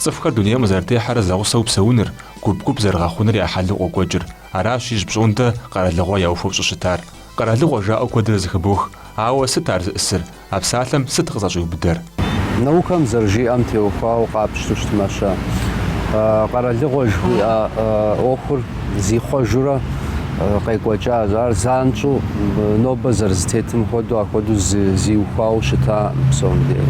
Цӏыхухэр дунейм къызэрытехьэрэ зэгъусэу псэуныр, гуп-гуп зэрыгъэхъуныр я хьэлу къокӏуэкӏыр. Аращ ижь пщӏондэ къэралыгъуэ яухуэу щӏыщытар. Къэралыгъуэ жаӏэу куэдрэ зэхыбох. Ауэ сыт ар зыӏысыр? А псалъэм сыт къызэщӏиубыдэр? Наукэм зэрыжиӏэм теухуауэ къапщту щытмэ-щэ, къэралыгъуэ жыхуиӏэ ӏуэхур зихъуэжурэ къекӏуэкӏащ. Ар занщӏэу нобэ зэрызытетым хуэдэу ахуэдэу зиухуауэ щытаӏым псом дей.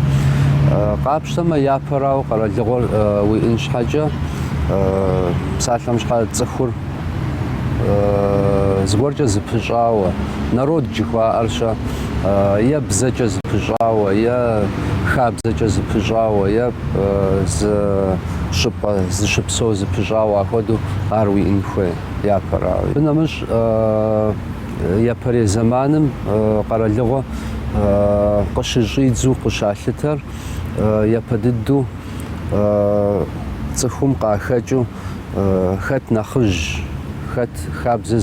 Къапщтэмэ, япэрауэ къэралыгъуэр уиӏын щхьэкӏэ, псалъэм щхьэ цӏыхур зыгуэркӏэ зыпыщӏауэ, народ жыхуаӏэр-щэ? е бзэкӏэ зыпыщӏауэ, е хабзэкӏэ зыпыщӏауэ, е зы щӏыпӏэ зыщыпсэу зыпыщӏауэ, ахуэдэу ар уиӏэн хуей япэрауэ. Абы нэмыщӏ япэрей зэманым къэралыгъуэ къыщыщӏидзу къыщалъытэр япэ дыдэу цӏыхум къахэкӏыу хэт нэхъыжь, хэт хабзэ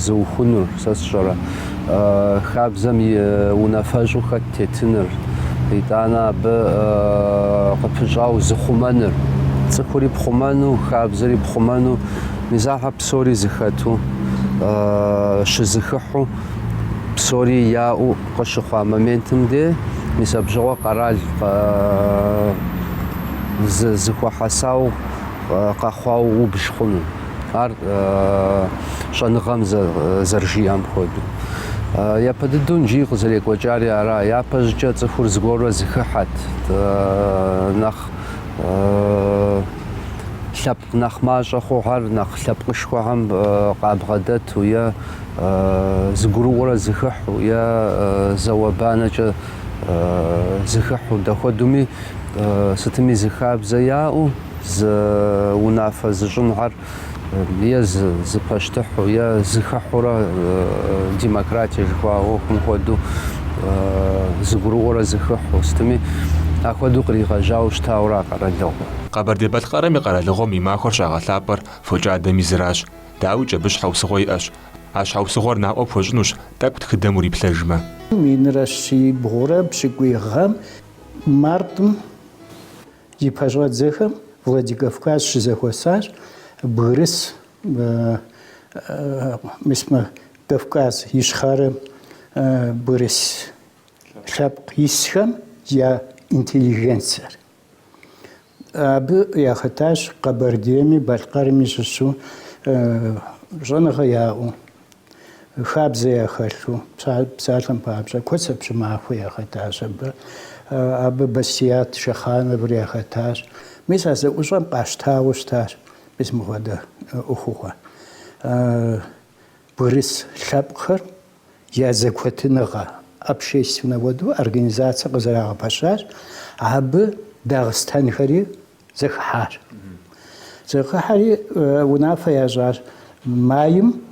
зыухуэнур, сэ сщӏэрэ, хабзэм и унафэщӏу хэт тетыныр, итӏанэ абы къыпыщӏау зыхъумэныр, цӏыхури пхъумэну, хабзэри пхъумэну, мис ахьэ псори зыхэту, щызыхыхьу, псори яӏэу, Къыщыхъуа моментым де мис абщыгъуэ къэрал зыхуэхьэсау къэхъуау убж хъуну. Ар щӏэныгъэм зэрыжиӏэм хуэдэу. Япэ дыдэу нджи къызэрекӏуэкӏари ара, япэщӏыкӏэ цӏыхур зыгуэрурэ зыхыхьэт, нэхъ лъэпкъ нэхъ мащӏэ хъухьэр нэхъ лъэпкъышхуэхьэм къабгъэдэту е зыгурыӏуэрэ зыхыхьу е зауэ-банэкӏэ зыхыхьу, дэхуэдэуми сытми зы хабзэ яӏэу, зы унафэ зыщӏынхьэр е зы пащтыхьу, е зыхыхьурэ демократие жыхуаӏэ ӏуэхум хуэдэу зыгурыӏуэрэ зыхыхьу, сытми ахуэдэу къригъэжьауэ щытауэ ара къэралыгъуэр. Къэбэрдей-Балъкъэрым и къэралыгъуэм и махуэр щагъэлъапӏэр фокӏадэм и зыращ. Дауикӏ абы щхьэусыгъуэ иӏэщ. А щхьэусыгъуэр наӏуэ пхуэщӏынущ тӏэкӏу тхыдэм уриплъэжмэ. Минрэ щибгъурэ пщыкӏуий гъэм, мартым и пэщӏэдзэхэм Владикавказ щызэхуэсащ бгырыс, мис мы Кавказ Ищхъэрэм бгырыс лъэпкъ исхэм я интеллигенцэр. Абы яхэтащ Къэбэрдейми Балъкъэрми щыщу щӏэныгъэ яӏэу, хабзэ яхэлъу, псалъэм папщӏэ, Куэцэ Пщымахуэ яхэтащ абы, абы Басият Шэхъановыр яхэтащ. Мис а зэӏущӏэм къащтауэ щытащ мис мыхуэдэ ӏуэхугъуэ бгырыс лъэпкъхэр. я зэкуэтыныгъэ общественнэ хуэдэу организацэ къызэрагъэпэщащ, абы дагъыстэнхэри зэхыхьащ. Зэхыхьэри унафэ ящӏащ майм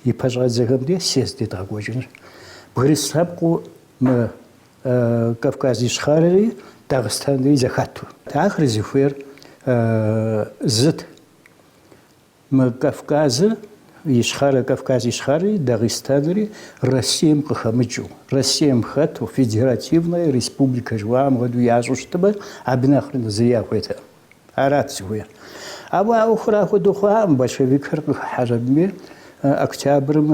и пэщӏэдзэхэм ди съезд едгъэкӏуэкӏыну. Бгырыс лъэпкъыу мы Кавказ Ищхъэрэри Дагъыстэнри зэхэту. Ахэр зыхуейр зыт. Мы Кавказыр, Ищхъэрэ, Кавказ Ищхъэри, Дагъыстэнри Россием къыхэмыкӏыу, Россием хэту, федеративнэ республикэ жыхуаӏэм хуэдэу ящӏу щытмэ, абы нэхърэ нэхъ зыри яхуейтэкъым. Арат зыхуейр. Ауэ а ӏуэхур ахуэдэу хъуакъым, большевикхэр къыхыхьащ абыми, октябрым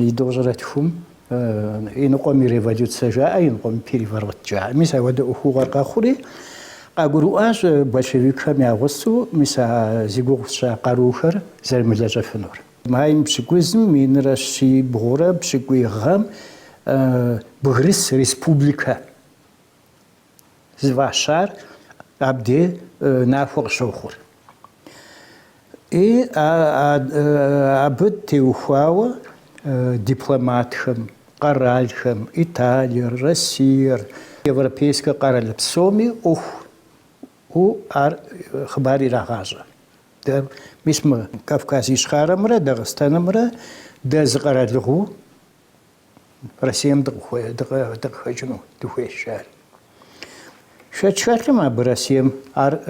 и тӏощӏрэ тхум. Иныкъуэми революцэ жаӏэ, иныкъуэми переворот жаӏэ. Мис ахуэдэ ӏуэхугъуэр къэхъури, къагурыӏуащ большевикхэм я гъусэу мис а зи гугъу тщӏа къарухэр зэрымылэжьэфынур. Майм пщыкӏузым минрэ щибгъурэ пщыкӏуй гъэм Бгырыс республикэ зыфӏащар абде нахуэ къыщохъур. И абы теухуауэ дипломатхэм, къэралхэм, Италиер, Россиер, европейскэ къэрал псоми ӏуэху у ар хъыбар ирагъащӏэ. Дэ мис мы Кавказ Ищхъэрэмрэ Дагъыстэнымрэ дэ зы къэралыгъуэу, Россием дыкъыхэкӏыну дыхуейщ ар. Шэч хэлъкъым абы Россием ар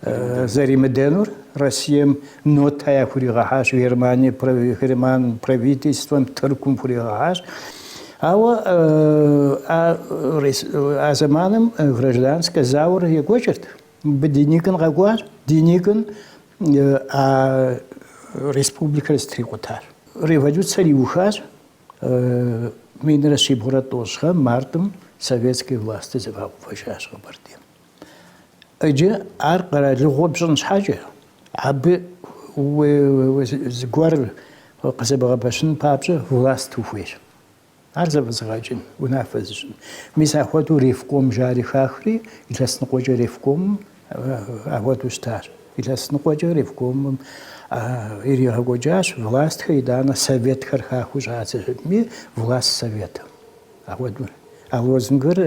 зэримыдэнур Россием нотэ яхуригъэхьащ, Германие, Герман правительствэм, Тыркум хуригъэхьащ. Ауэ а зэманым гражданскэ зауэр екӏуэкӏырт. Мыбы Деникин къэкӏуащ, Деникиным а республикэр зэтрикъутащ. Революцэр иухащ минрэ щибгъурэ тӏощӏ гъэм, мартым, советскэ власти зэфӏагъэувэжащ Къэбэрдейм. Иджы ар къэралыгъуэ пщӏын щхьэкӏэ, абы зыгуэр къызэбгъэпэщын папщӏэ власт ухуейщ. Ар зэфӏэзыгъэкӏын, унафэ зыщӏын. Мис ахуэдэу ревком жари хахри илъэс ныкъуэкӏэ ревкомым ахуэдэу щытащ. Илъэс ныкъуэкӏэ ревкомым иригъэкӏуэкӏащ властхэр итӏанэ советхэр хахыу щӏадзэми власт советым. Ахуэдэу. А лозунгыр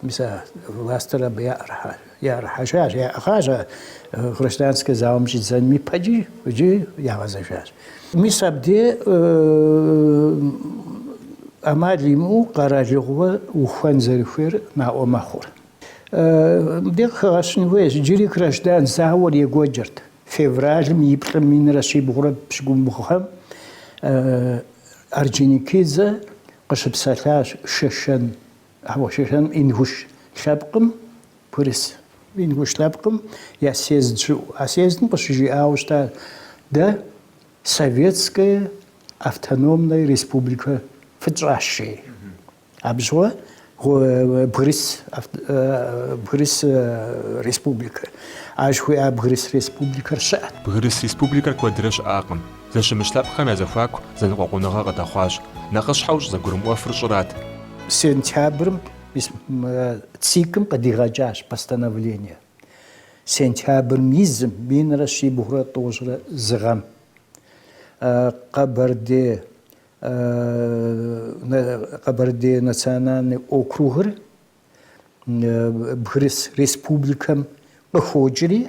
мис а властыр абы яӏэрыхьащ. Яӏэрыхьэжащ, яӏыгъащ а гражданскэ зауэм щӏидзэным ипэкӏи иджы ягъэзэжащ. Мис абдей ӏэмал имыӏэу къэралыгъуэ ухуэн зэрыхуейр наӏуэ мэхъур. Мыбдеж къыхэгъэщын хуейщ, иджыри граждан зауэр екӏуэкӏырт. Февралым и плӏым минрэ щибгъурэ пщыкӏубгъу гъэм Орджоникидзе къыщыпсэлъащ Шэшэн Къэхъуэшэжам Ингуш лъэпкъым бгырыс. Ингуш лъэпкъым я съезд щыӏэу. А съездым къыщыжиӏауэ щытащ, Дэ Советская автономная республика фытщӏащ, жи. Абы щыгъуэ Бгырыс Бгырыс республикэ. Ар жыхуиӏа Бгырыс республикэр щыӏэт. Бгырыс республикэр куэдрэ щыӏакъым. Зэщымыщ лъэпкъхэм я зэхуаку зэныкъуэкъуныгъэ къыдэхъуащ. Нэхъыщхьэу щӏызэгурымыӏуэфыр щӏырат. Сентябрым ВЦИК-м къыдигъэкӏащ постановление. Сентябрым и зым, минрэ щибгъурэ тӏощӏрэ зы гъэм, Къэбэрдей Къэбэрдей национальный округыр Бгырыс республикэм къыхокӏри,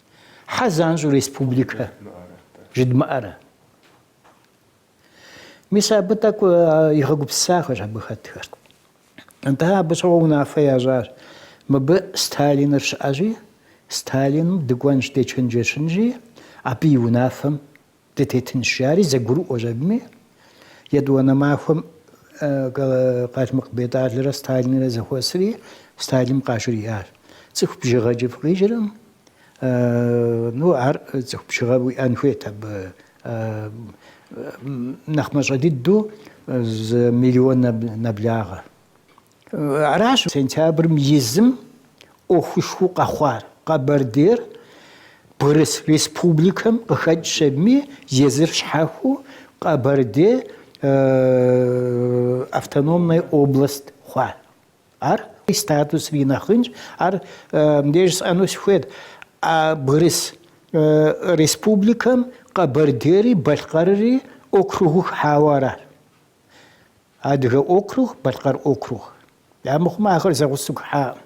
Хьэ занщӏэу республикэ жыдмыӏэрэ? Мис абы тӏэкӏу игъэгупсысахэщ абы хэтхэр. Атӏэ абы щыгъуэ унафэ ящӏащ. Мыбы Сталиныр щыӏэщи, Сталиным дыкӏуэнщ дечэнджэщынщи, абы и унафэм Дытетынщ, жари зэгурыӏуащ абыми. Етӏуанэ махуэм Къалмыкъ Бетӏалрэ Сталинрэ зэхуэсри, Сталиным къажриӏащ. Цӏыху бжыгъэкӏэ фыкъикӏыркъым. Ну, ар цӏыху бжыгъэ уиӏэн хуейт абы. Нэхъ мащӏэ дыдэу зы миллион нэблагъэ. Аращ сентябрым и зым ӏуэхушхуэу къэхъуар. Къэбэрдейр бгырыс республикэм къыхэкӏщ абыми, езыр щхьэхуэу Къэбэрдей автономная область хъуат. Ар и статусри нэхъ инщ. Ар мыбдеж жысӏэну сыхуейт, а бгырыс республикэм Къэбэрдейри Балъкъэрри округыу хыхьауэ аращ. Адыгэ округ, Балъкъэр округ. Амыхъумэ ахэр зэгъусэу хыхьаӏым.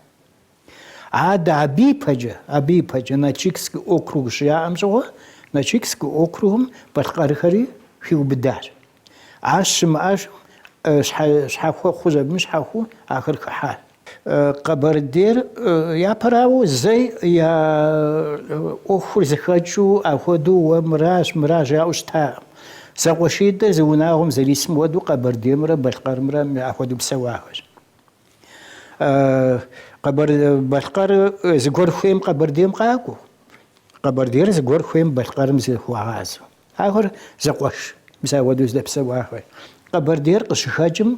Адэ абы ипэкӏэ, абы ипэкӏэ Нальчикский округ щыяӏэм щыгъуэ, Нальчикский округым Балъкъэрхэри хиубыдащ. Ар щымыӏэжым, щхьэ, щхьэхуэ хъущ абыми щхьэхуэу ахэр хыхьащ. Къэбэрдейр япэрауэ зэи я ӏуэхур зэхэкӏыу ахуэдэу уэ мыращ, мыра жаӏэу щытакъым. Зэкъуэшитӏыр зы унагъуэм зэрисым хуэдэу Къэбэрдеймрэ Балъкъэрымрэ ахуэдэу псэуахэщ. Къэбэр, Балъкъэр зыгуэр хуейм Къэбэрдейм къакӏуэу, Къэбэрдейр зыгуэр хуейм Балъкъэрым зыхуагъазэу. Ахэр зэкъуэш, мис ахуэдэу зэдэпсэуахэщ. Къэбэрдейр къыщыхэкӏым,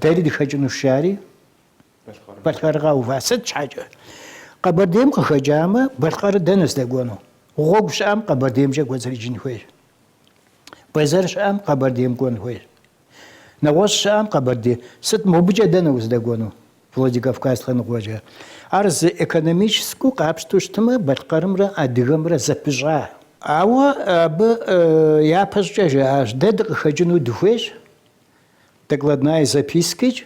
дэри дыхэкӏынущ, жари, Балъкъэрыр къэува. Сыт щхьэкӏэ? Къэбэрдейм къыхэкӏамэ, Балъкъэрыр дэнэ здэкӏуэну? Гъуэгу щыӏэм Къэбэрдеймкӏэ кӏуэцӏрыкӏын хуейщ. Бэзэр щыӏэм Къэбэрдейм кӏуэн хуейщ. Нэгъуэщӏ щыӏэм Къэбэрдей. Сыт мобыкӏэ дэнэ уздэкӏуэну? Владикавказ лъэныкъуэкӏэ. Ар зы экономическэу къапщтэу щытмэ, Балъкъэрымрэ Адыгэмрэ зэпыщӏа. Ауэ абы япэщӏыкӏэ жаӏащ, дэ дыкъыхэкӏыну дыхуейщ, докладная запискэкӏэ,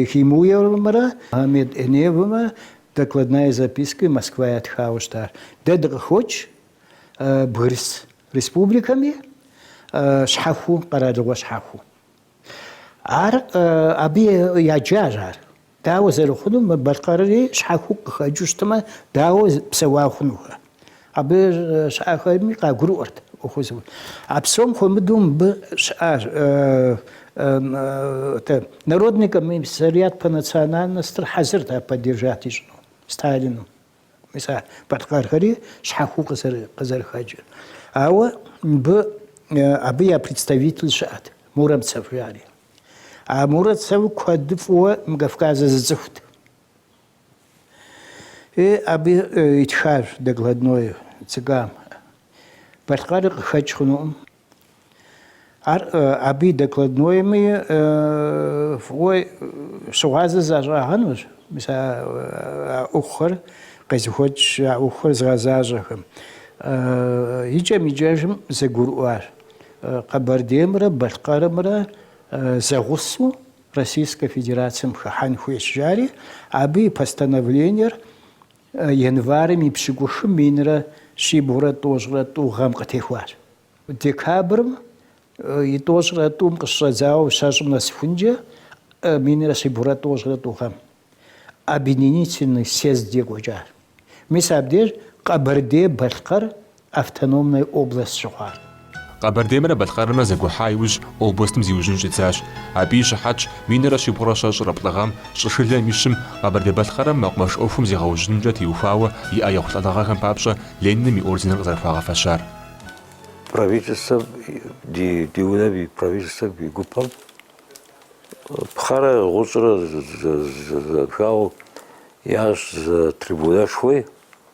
Гемуевымрэ Мухьэмед Энеевымрэ докладная запискэ Москва ятхауэ щытащ. Дэ дыкъыхокӏ, Бгырыс республикэми щхьэхуэу, къэралыгъуэ щхьэхуэу. Ар абы яджащ ар. Дауэ зэрыхъуну мы Балъкъэрри щхьэхуэу къыхэкӏыу щытмэ, дауэ псэуа хъунухэ. Абы щыӏэхэми къагурыӏуэрт ӏуэхур зыу. А псом хуэмыдэу мыбы щыӏа Народный комиссариат по национальностыр хьэзырт ар поддержать ищӏыну Сталину. Мис а балъкъэрхэри щхьэхуэу къызэрыхэкӏыр. Ауэ мыбы абы я представитель щыӏэт, Муромцев жари. А Муромцев куэд фӏыуэ мы Кавказыр зыцӏыхут. И абы итхащ докладной ЦК-м. Балъкъэрыр къыхэкӏ хъунукъым. Ар абы и докладнойми фӏыуэ щыгъуазэ защӏагъэнущ, мис а ӏуэхухэр къезыхуэкӏ, а ӏуэхухэр зыгъэзащӏэхэм. Икӏэм-икӏэжым зэгурыӏуащ Къэбэрдеймрэ Балъкъэрымрэ зэгъусэу Российскэ Федерацэм хыхьэн хуейщ, жари абы и постановлениер Январым и пщыкӏухым минрэ щибгъурэ тӏощӏрэ тӏу гъэм къытехуащ. Декабрым и тӏощӏрэ тӏум къыщыщӏэдзауэ щэщӏым нэсыхункӏэ минрэ щибгъурэ тӏощӏрэ тӏу гъэм Объединительный съезд екӏуэкӏар. Мис абдеж Къэбэрдей-Балъкъэр автономной область щыхъуар. Къэбэрдеймрэ Балъкъэрымрэ зэгухьа иужь областым зиужьын щӏидзащ. Абы и щыхьэтщ минрэ щибгъурэ щэщӏрэ плӏы гъэм, щӏышылэм и щым, Къэбэрдей-Балъкъэрым мэкъумэш ӏуэхум зегъэужьынымкӏэ теухуауэ иӏэ ехъулӏэныгъэхэм папщӏэ Лениным и орденыр къызэрыхуагъэфэщар. Правительствэм, ди унэм и Правительствэм и гупэм пхъэрэ гъущӏрэ зэхэлъу ящӏ зы трибунэшхуи,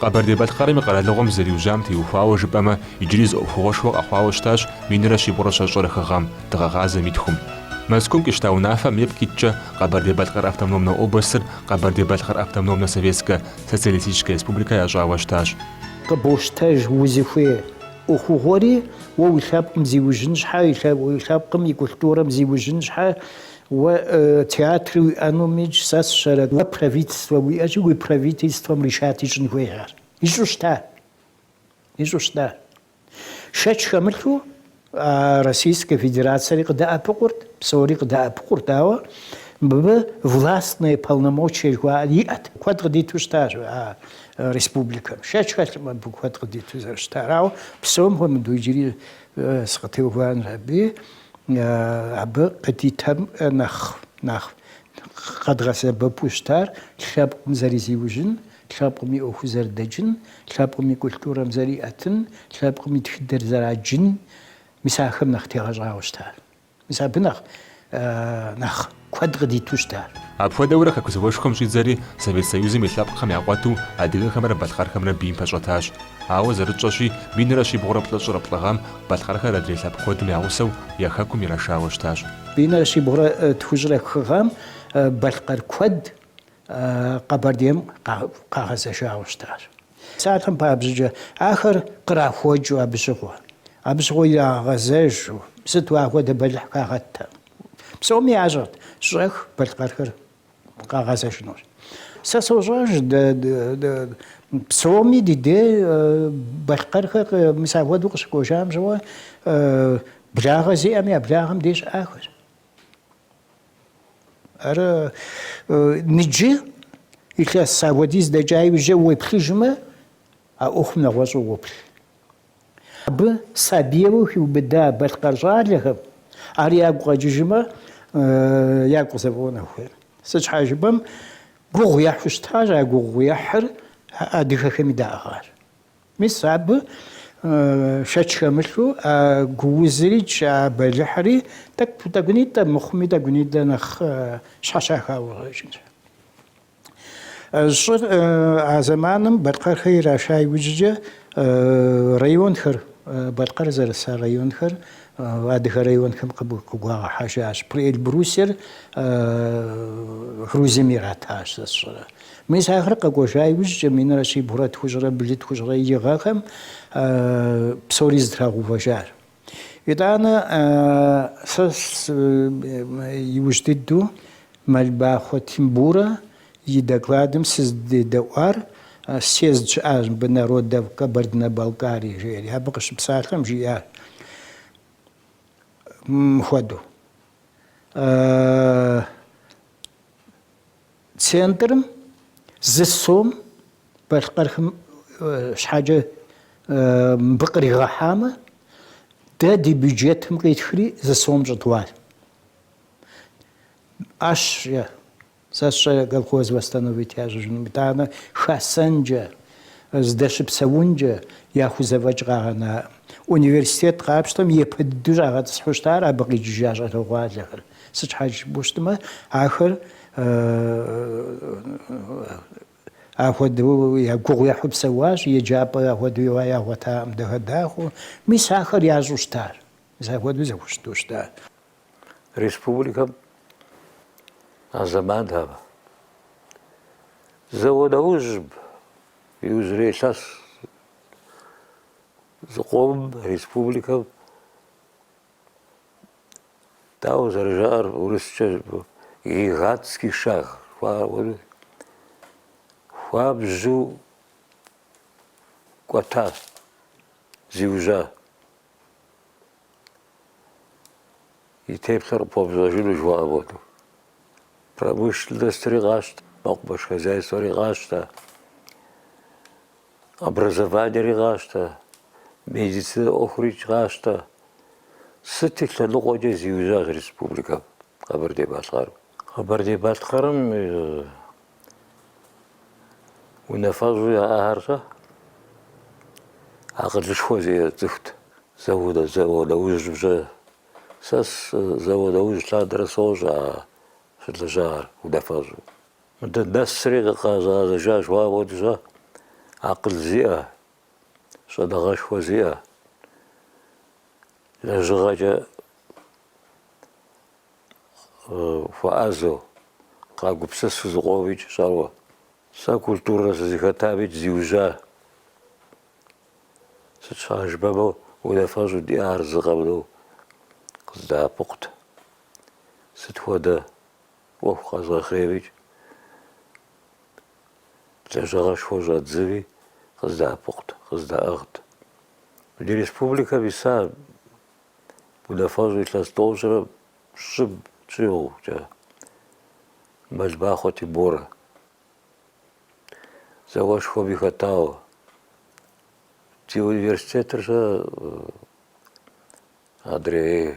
Къэбэрдей-Балъкъэрым и къэралыгъуэм зэриужьам теухуауэ жыпӏэмэ, иджыри зы ӏуэхугъуэшхуэ къэхъуауэ щытащ минрэ щибгъурэ щэщӏрэ хы гъэм, дыгъэгъазэм и тхум. Мэзкум къищта унафэм ипкъ иткӏэ Къэбэрдей-Балъкъэр автономнэ областыр Къэбэрдей-Балъкъэр автономнэ советскэ социалистическэ республикэ ящӏауэ щытащ. Къыбощтэж узыхуей ӏуэхугъуэри, уэ уи лъэпкъым зиужьын щхьэ, уи лъэпкъым и культурэм зиужьын щхьэ, Уэ театри уиӏэнумикӏ сэ сщӏэрэ, уэ правительствэ уиӏэкӏи уи правительствэм решать ищӏын хуей ар. Ищӏу щыта? Ищӏу щыта? Шэч хэмылъу а Российскэ Федерацэри къыдэӏэпыкъурт, псори къыдэӏэпыкъурт, ауэ мыбы властные полномочия жыхуаӏэр иӏэт. Куэд къыдиту щытащ а республикэм. Шэч хэлъым абы куэд къыдиту зэрыщытар, ауэ псом хуэмыдэу иджыри сыкъытеувыӏэнур абы. Абы къыдитам нэхъ нэхъ къэдгъэсэбэпу щытар лъэпкъым зэрызиужьын, лъэпкъым и ӏуэху зэрыдэкӏын, лъэпкъым и культурэм зэриӏэтын, лъэпкъым и тхыдэр зэраджын, мис ахэм нэхъ тегъэщӏауэ щытар. Мис абы нэхъ нэхъ. куэд къыдиту щытащ. Апхуэдэурэ Хэку зауэшхуэм щӏидзэри, Совет Союзым и лъэпкъхэм я къуэту, адыгэхэмрэ балъкъэрхэмрэ бийм пэщӏэтащ. Ауэ зэрытщӏэщи, минрэ щибгъурэ плӏыщӏрэ плӏы гъэм балъкъэрхэр адрей лъэпкъ куэдым я гъусэу я Хэкум ирашауэ щытащ. Минрэ щибгъурэ тхущӏрэ хы гъэм балъкъэр куэд Къэбэрдейм къагъэзэжауэ щытащ. Псалъэм папщӏэкӏэ ахэр кърахуэкӏыу абы щыгъуэ, абы щыгъуэ ирагъэгъэзэжу, сыту ахуэдэ бэлыхь хагъэттэкъым. Псоми ящӏэрт, щӏэх балъкъэрхэр къагъэзэжынущ. Сэ сощӏэж, псоми ди де балъкъэрхэр мис апхуэдэу къыщыкӏуэжам щыгъуэ, благъэ зиӏэми я благъэм де щыӏахэр. Ар ныджы илъэс апхуэдиз дэкӏа иужьчӏэ уеплъыжмэ, а ӏуэхум нэгъуэщӏу уоплъ. Абы сабийуэ хиубыда балъкъэр щӏалэхэм ар ягу къэкӏыжмэ, ягу къызэфӏуэн хуейр. Сыт щхьа жыпӏэм, гугъу ехьу щытащ, а гугъу ехьыр адыгэхэми даӏыгъащ. Мис абы шэч хэмылъу а гуузрикӏ, а бэлыхьри тӏэкӏу тӏэкӏунитӏэ, мыхъуми тӏэкӏунитӏэ нэхъ щхьэщахауэ къыщӏэкӏынщ. Щӏыр а зэманым балъкъэрхэр ираша иужькӏэ районхэр, Балъкъэр зэрыса районхэр адыгэ районхэм къыгуагъэхьэжащ. Приэльбрусьер Грузием иратащ сэ сщӏэрэ. Мис ахэр къэкӏуэжа иужькӏэ минрэ щибгъурэ тхущӏрэ блы, тхущӏрэ и гъэхэм псори зэтрагъэувэжар. Итӏанэ сэ иужь дыдэу Мэлбахъуэ Тимборэ и докладым сыздедэӏуар съезд щыӏащ мыбы Народов Кабардино-Балкарии жери, абы къыщыпсалъэм жиӏащ мыпхуэдэу. Центрым зы сом балъкъэрхэм щхьэкӏэ мыбы къригъэхьамэ, дэ ди бюджетым къитхри зы сом щӏыдгъуащ. ӏэщ е сэ сщӏэ колхоз восстановить ящӏыжыным, итӏанэ хасэнкӏэ, здэщыпсэункӏэ яхузэфӏэкӏ къагъэнаӏым. Университет къапщтэм япэ дыдэу щӏагъэтӏысхьэу щытар абы къикӏыжа щӏалэгъуалэхэр. Сыт щхьэкӏэ жыпӏэу щытмэ, ахэр ахуэдэу я гугъу ехьу псэуащ, еджапӏэ ахуэдэу иуа ягъуэтакъым дахэ-дахэу. Мис ахэр ящӏу щытар, мис ахуэдэу зэхущыту щытар. Республикэм а зэманхэм зауэ нэужьым иужьрей илъэс зыкъом республикэм Дауэ зэрыжаӏэр урыскӏэ гигантский шаг, хуабжьу кӏуэта зиужьа и теплъэр къыпхуэмыщӏэжыну жыхуаӏэм хуэдэу. Промышленностри къащтэ, мэкъумэш хозяйствори къащтэ. Образованиери къащтэ, медицинэ ӏуэхурикӏ къащтэ. Сыт и лъэныкъуэкӏэ зиужьащ республикэм, Къэбэрдей-Балъкъэрым? Къэбэрдей-Балъкъэрым унафэщӏу яӏахэр щэ акъылышхуэ зиӏэ цӏыхут. Зауэ нэужьым щэ, сэ зауэ нэужь лъандэрэ сощӏэ а щылэжьахэр унафэщӏу. Мыдэ нэсри къэзыгъэзэжа жыхуаӏэм хуэдэ щэ акъыл зиӏэ, щӏэныгъэшхуэ зиӏэ, лэжьыгъэкӏэ хуэӏэзэу, къагупсысу зыкъомикӏ щӏэуэ. Сэ культурэ сызыхэтамикӏ зиужьа. Сыт щхьа жыпӏэмэ унафэщӏу диӏахэр зы къэмынэу къыздэӏэпыкъут. Сыт хуэдэ? ӏуэху къэзгъэхъеймикӏ, лэжьыгъэшхуэ щӏэздзэми къыздэӏэпыкъут, къыздэӏыгът. Ди республикэм иса унафэщӏ илъэс тӏощӏрэ пщӏым щӏигъукӏэ Мэлбахъуэ Тимборэ зауэшхуэми хэтауэ, ди университетыр сэ адрей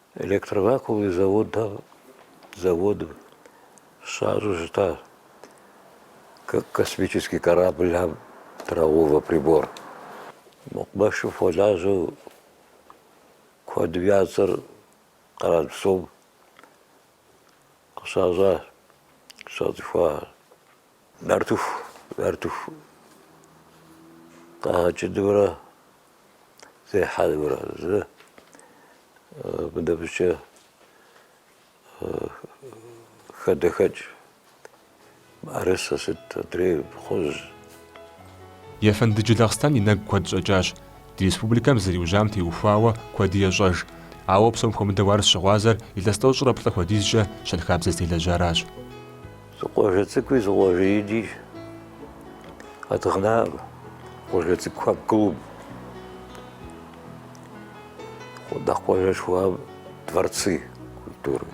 Электровакуумный завод, заводым щащӏу щытащ космический корабльхэм трагъэувэ прибор. Мэкъумэшым хуэлажьэу куэдым я цӏэр къэрал псом къыщащӏащ, щацӏыхуащ. Нартыху, нартыху къэгъэкӏынымрэ зехьэнымрэ, абы нэмыщӏкӏэ хадэхэкӏ мыӏэрысэ сыт, адрей кхъужь. Ефэнды Джылахъстэн и нэгу куэд щӏэкӏащ. Ди республикэм зэриужьам теухуауэ куэди ещӏэж. Ауэ псом хуэмыдэу ар щыгъуазэр илъэс тӏощӏрэ плӏы хуэдизкӏэ щэнхабзэ зытелэжьаращ. Зы къуажэ цӏыкӏуи зы къуажэ ини къэдгъэнаӏым, къуажэ цӏыкӏухэм клуб. Нэхъ къуажэшхуэхэм дворцы культуры.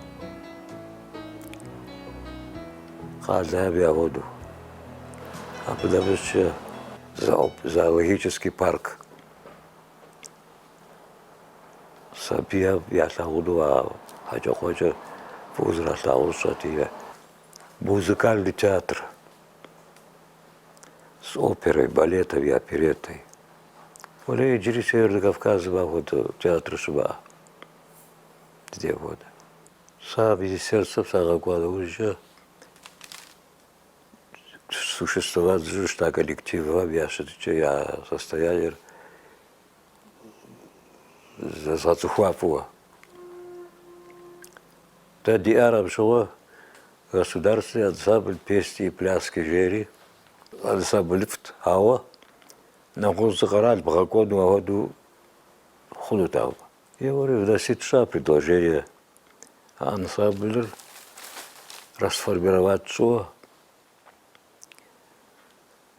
Къалэм хуэдэу. Абы нэмыщӏкӏэ зоологический парк. сабийхэм ялъагъуну а хьэкӏэкхъуэкӏэр фӏыуэ зэралъагъур сщӏэти музыкальный театр с оперой балетом и опереттой уэри иджыри северный кавказым ахуэдэ театр щымыӏэ ди дей хуэдэ сэ министерствэм сагъэкӏуа нэужькӏэ существовать зыщӏу щыта коллективхэм я щытыкӏэ я состояниер зэзгъэцӏыхуа фӏыуэ. Дэ диӏар абщыгъуэ государственный ансамбль песни и пляски жери ансамблыфӏт, ауэ нэгъуэщӏ зы къэрал бгъэкӏуэну ауэду хъунутэкъым. Аргуэру вносить сщӏа предложение а ансамблыр расформировать щӏыуэ.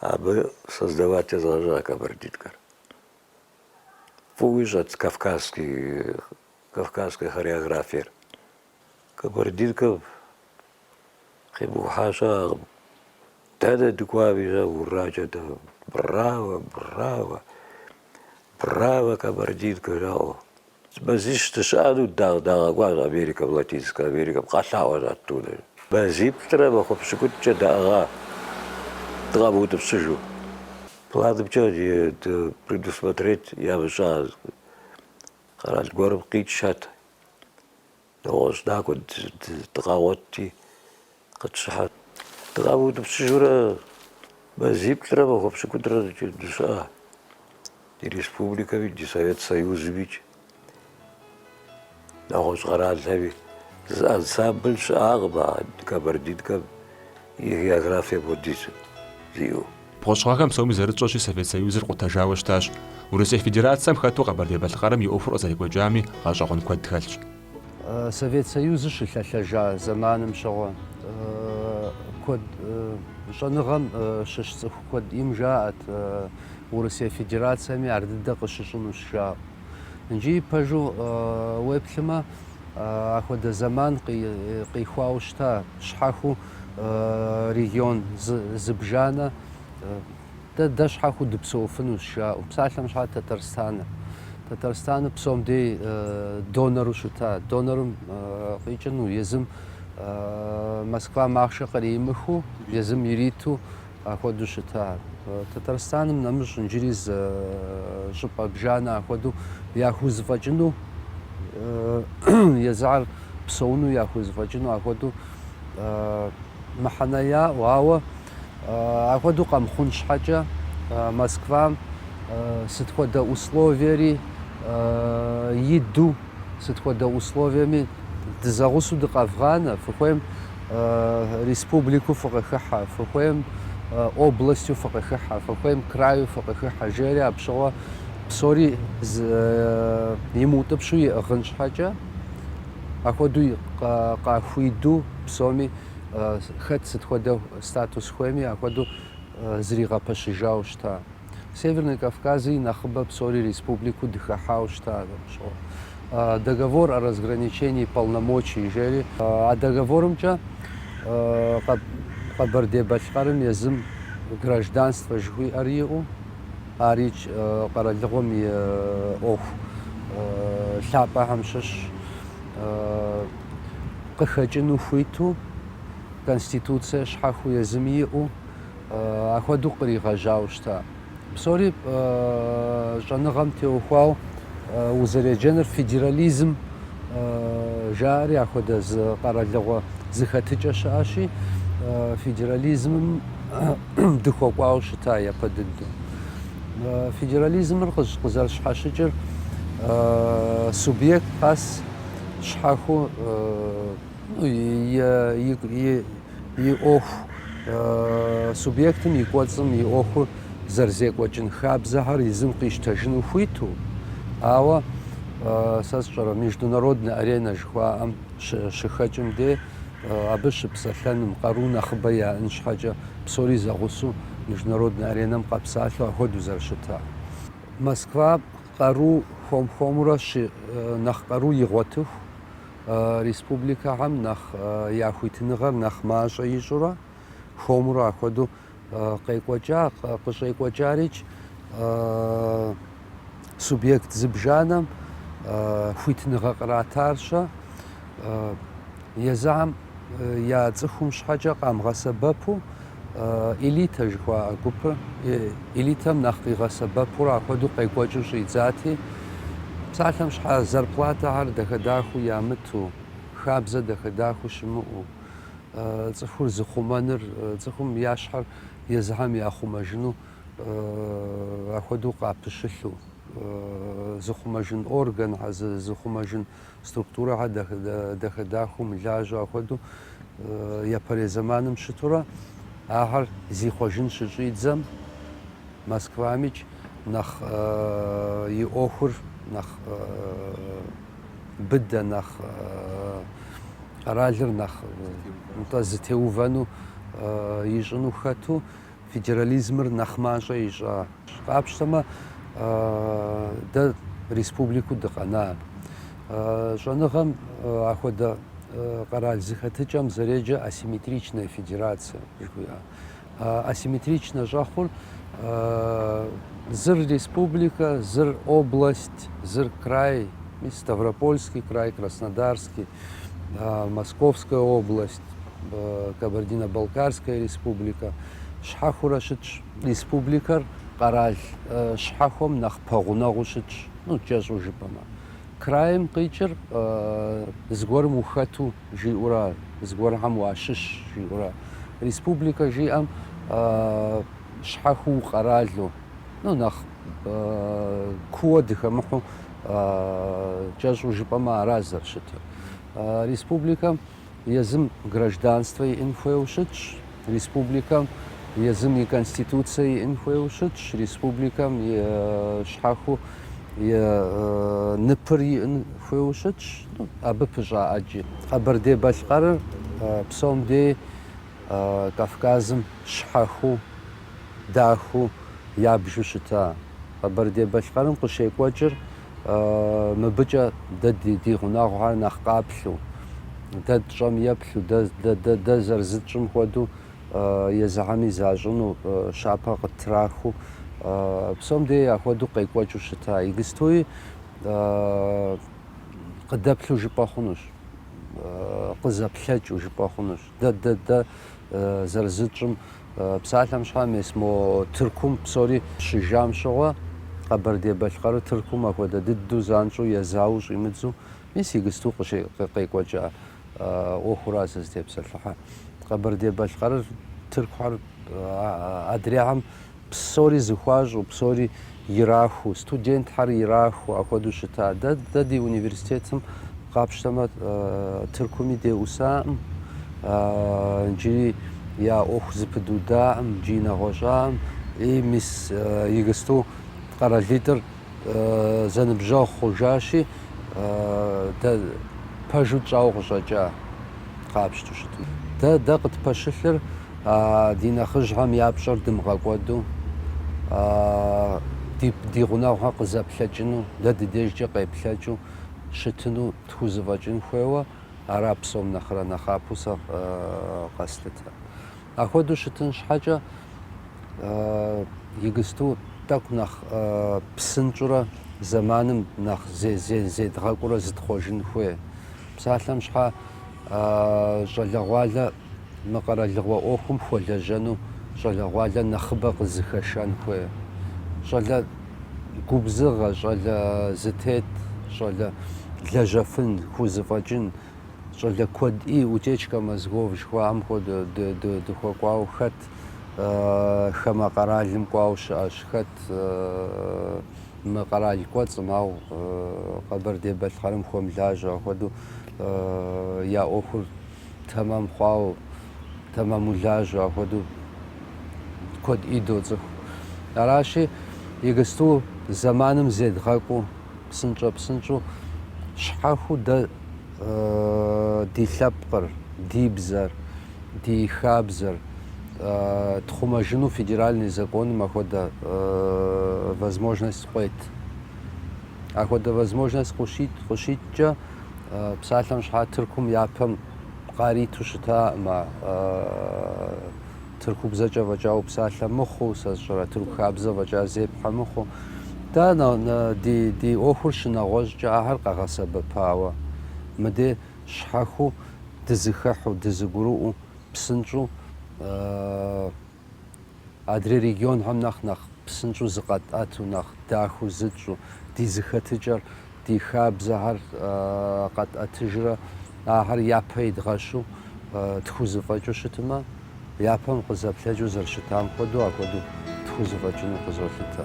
Абы создавать езгъэжьа кабардинкэр. Фӏыуэ ищӏэт кавказский, кавказской хореографиер. Кабардинкэм къимыкӏухьа щыӏэкъым. Дэнэ дыкӏуами щэ уракӏэ дэ браво, браво, браво кабардинкэ жаӏэу. Мазищ дыщыӏэну дагъ дагъэкӏуащ Америкэм, Латинскэ Америкэм къэлъэӏуащ оттуда. Мазиплӏрэ махуэ пщыкӏутӏкӏэ даӏыгъа дыкъамыутӏыпщыжу. Планымкӏэ предусмотреть ямыщӏа къэрал гуэрым къикӏхэт. Нэгъуэщӏ дакӏуэ дыкъагъуэтти, къытщыхьэт. Дыкъамыутӏыпщыжурэ мазиплӏрэ махуэ пщыкӏутӏрэ дыщыӏа ди республикэми, ди Совет Союзымикӏ, нэгъуэщӏ къэралхэми, зы ансамбль щыӏакъым а Кабардинкэм. И географие апхуэдизу зиӏэу. Бгъущӏ гъэхэм псоми зэрытщӏэщи, Совет Союзыр къутэжауэ щытащ. Урысей Федерацэм хэту Къэбэрдей-Балъкъэрым и ӏуэхур къызэрекӏуэкӏами, гъэщӏэгъуэн куэд хэлъщ. Совет Союзыр щылъэлъэжа зэманым щыгъуэ, куэд щӏэныгъэм щыщ цӏыху куэдым жаӏэт Урысей Федерацэми ар дыдэ къыщыщӏынущ жаӏэу. Иджыри пэжу уеплъымэ, ахуэдэ зэман къихуауэ щыта щхьэхуэу регион зыбжанэ, дэ дэ щхьэхуэу дыпсэуфынущ жаӏэу. Псалъэм щхьа Татарстаныр. Татарстаныр псом дей донору щыта. Донорым къикӏыну езым Москвам ахъшэ къримыхыу, езым ириту Ахуэдэу щыта Татарстаным нэмыщӏ инджыри зы щӏыпӏэ бжанэ ахуэдэу яхузэфӏэкӏыну, езыхьэр псэуну яхузэфӏэкӏыну ахуэдэу мыхьэнэ яӏэу, ауэ ахуэдэу къэмыхъун щхьэкӏэ Москвам сыт хуэдэ условиери иду, сыт хуэдэ условиеми дызэгъусэу дыкъэвгъанэ, фыхуейм Республику фыкъыхыхьэ, фыхуейм областью фыкъыхыхьэ, фыхуейм краю фыкъыхыхьэ, жери апщыгъуэ псори имыутӏыпщу иӏыгъын щхьэкӏэ, ахуэду къахуиду псоми хэт сыт хуэдэ статус хуейми, ахуэду зригъэпэщыжауэ щыта. Северный Кавказ и нэхъыбэ псори республику дыхыхьауэ щыта. Договор о разграничении полномочий жери. А договорымкӏэ Къэбэрдей-Балъкъэрым езым гражданствэ жыхуиӏэр иӏэу, арикӏ къэралыгъуэм и ӏуэху лъапӏэхэм щыщщ, къыхэкӏыну хуиту, конституцие щхьэхыу езым иӏэу, Ахуэдэу къригъэжьауэ щыта? Псори щӏэныгъэм теухуау узэреджэныр федерализм жаӏэри ахуэдэ зы къэралыгъуэ зыхэтыкӏэ щыӏэщи, федерализмым дыхуэкӏуауэ щыта япэ дыдэу. Федерализмыр къызэрыщхьэщыкӏыр субъект къэс щхьэху и ӏуэху субъектым и кӏуэцӏым и ӏуэхур зэрызекӏуэкӏын хабзэхэр езым къищтэжыну хуиту, ауэ сэ сщӏэрэ международнэ аренэ жыхуаӏэм щыхэкӏым де абы щыпсэлъэным, къару нэхъыбэ яӏэн щхьэкӏэ псори зэгъусэу международнэ аренэм къэпсалъэу ахуэдэу зэрыщытар. Москва къару хуэм-хуэмурэ нэхъ къару игъуэтыху. республикэхэм нэхъ я хуитыныгъэр нэхъ мащӏэ ищӏурэ, хуэмурэ ахуэдэу къекӏуэкӏа, къыщӏекӏуэкӏарикӏ субъект зыбжанэм хуитыныгъэ къратарщэ, езыхьэм я цӏыхум щхьэкӏэ къамыгъэсэбэпу, Элитэ жыхуаӏэ гупыр элитэм нэхъ къигъэсэбэпурэ ахуэдэу къекӏуэкӏыу щӏидзати, псалъэм щхьэ зарплатэхэр дахэ-дахэу ямыту, хабзэ дахэ-дахэу щымыӏэу, цӏыхур зыхъумэныр, цӏыхум я щхьэр езыхьэм яхъумэжыну ахуэдэу къапыщылъу, зыхъумэжын органхэр, зыхъумэжын структурэхэр дахэ-дахэу мылажьэу ахуэдэу япэрей зэманым щытурэ ахэр зихъуэжын щыщӏидзэм Москвамикӏ нэхъ и ӏуэхур нэхъ быдэ, нэхъ къэралыр нэхъ нтӏэ зытеувэну ищӏыну хэту Федерализмыр нэхъ мащӏэ ищӏа. Къапщтэмэ, дэ республику дыкъэна, щӏэныгъэм ахуэдэ къэрал зыхэтыкӏэм зэреджэ асимметричная федерация жыхуиӏэ. Асимметричнэ щӏэхъур зыр республикэ, зыр область, зыр край, Ставропольский край, Краснодарский, Московская область. Кабардино-Балкарская республика щхьэхыурэ щытщ. Республикэр къэрал щхьэхуэм нэхъ пэгъунэгъуу щытщ, ну, кӏэщӏу жыпӏэмэ. Краим къикӏыр зыгуэрым ухэту жиӏэура, зыгуэрхэм уащыщ жиӏэура. Республикэ жиӏэм щхьэхуу укъэралу, ну, нэхъ кууэ дыхэмыхьу кӏэщӏу жыпӏэмэ ара зэрыщытыр. Республикэм Езым гражданствэ иӏын хуейуэ щытщ республикэм, езым и Конституцэ иӏын хуейуэ щытщ республикэм, и щхьэхыу и ныпыр иӏын хуейуэ щытщ, ну, абы пыщӏа ӏэджи. Къэбэрдей-Балъкъэрыр псом дей Кавказым щхьэхыу, дахыу, ябжу щыта. Къэбэрдей-Балъкъэрым къыщекӏуэкӏыр Мыбыкӏэ дэ ди гъунэгъухэр нэхъ къаплъу, дэ тщӏэм еплъу, дэ зэрызытщӏым хуэдэу езыхэми защӏыну щапэ къыттрахыу, псом дей ахуэдэу къекӏуэкӏыу щыта. Игыстуи къыдэплъу жыпӏэ хъунущ, къызэплъэкӏыу жыпӏэ хъунущ. Дэ дэ дэ зэрызытщӏым псалъэм щхьа мес мо Тыркум псори щыжам щыгъуэ Къэбэрдей-Балъкъэрыр Тыркум ахуэдэ дыдэу занщӏэу езауэу щӏимыдзу мис игысту къекӏуэкӏа ӏуэхура сызытепсэлъыхьэ. Къэбэрдей-Балъкъэрыр Тыркухэр адрейхэм Псори зыхуащӏу, псори ирахуу, студентхьэр ирахуу ахуэдэу щыта. Дэ, дэ ди университетым къапщтэмэ, Тыркуми деӏусаӏым, иджыри я ӏуэху зыпыдудаӏым, джыри нэгъуэщӏаӏым. И мис игысту къэралитӏыр зэныбжьэгъу хъужащи, дэ пэжу тщӏауэ къыщӏэкӏа къапщту щытмэ. Дэ дэ къытпэщылъыр ди нэхъыжьхэм я пщӏэр дымыгъэкӏуэду, ди ди гъунэгъухэр къызэплъэкӏыну, дэ ди дежкӏэ къеплъэкӏыу щытыну тхузэфӏэкӏын хуейуэ ара псом нэхърэ нэхъапэу сэ къэслъытэр. Ахуэдэу щытын щхьэкӏэ игысту тӏэкӏу нэхъ псынщӏурэ зэманым нэхъ зедгъэкӏуурэ зытхъуэжын хуей. Псалъэм щхьэ щӏалэгъуалэ мы къэралыгъуэ ӏуэхум хуэлэжьэну щӏалэгъуалэ нэхъыбэ къызыхэшэн хуей. Щӏалэ губзыгъэ, щӏалэ зытет, щӏалэ лэжьэфын, хузэфӏэкӏын. щӏалэ куэди утечка мозгов жыхуаӏэм хуэдэ дыхуэкӏуауэ хэт хамэ къэралым кӏуауэ щыӏэщ, хэт мы къэрал кӏуэцӏым, ау Къэбэрдей-Балъкъэрым хуэмылажьэ ахуэдэу я ӏуэхур тэмэм хъуауэ, тэмэму лажьэ ахуэдэу куэди доцӏыху. Аращи, игысту зэманым зедгъэкӏуу псынщӏэ-псынщӏэу щхьэхыу дэ ди лъэпкъыр, ди бзэр, ди хабзэр тхъумэжыну федеральный законым ахуэдэ возможность къует. Ахуэдэ возможность къыщит, къыщиткӏэ псалъэм щхьэ Тыркум япэм къариту щытаӏым а Тыркубзэкӏэ фӏэкӏа упсалъэ мыхъуу, сэ сщӏэрэ, тырку хабзэ фӏэкӏа зепхьэ мыхъуу. Дэ ди ӏуэхур щынэгъуэщӏкӏэ ахэр къэгъэсэбэпауэ, мыдей щхьэхыу дызыхыхьу, дызыгурыӏуэу, псынщӏэу адрей регионхэм нэхъ нэхъ псынщӏэу зыкъэтӏэту, нэхъ дахэу зытщӏу, ди зыхэтыкӏэр Ди хабзэхэр къэтӏэтыжрэ ахэр япэ идгъэщу тхузэфӏэкӏыу щытмэ, япэм къызэплъэкӏыу зэрыщытам хуэдэу ахуэдэу тхузэфӏэкӏыну къызолъытэ.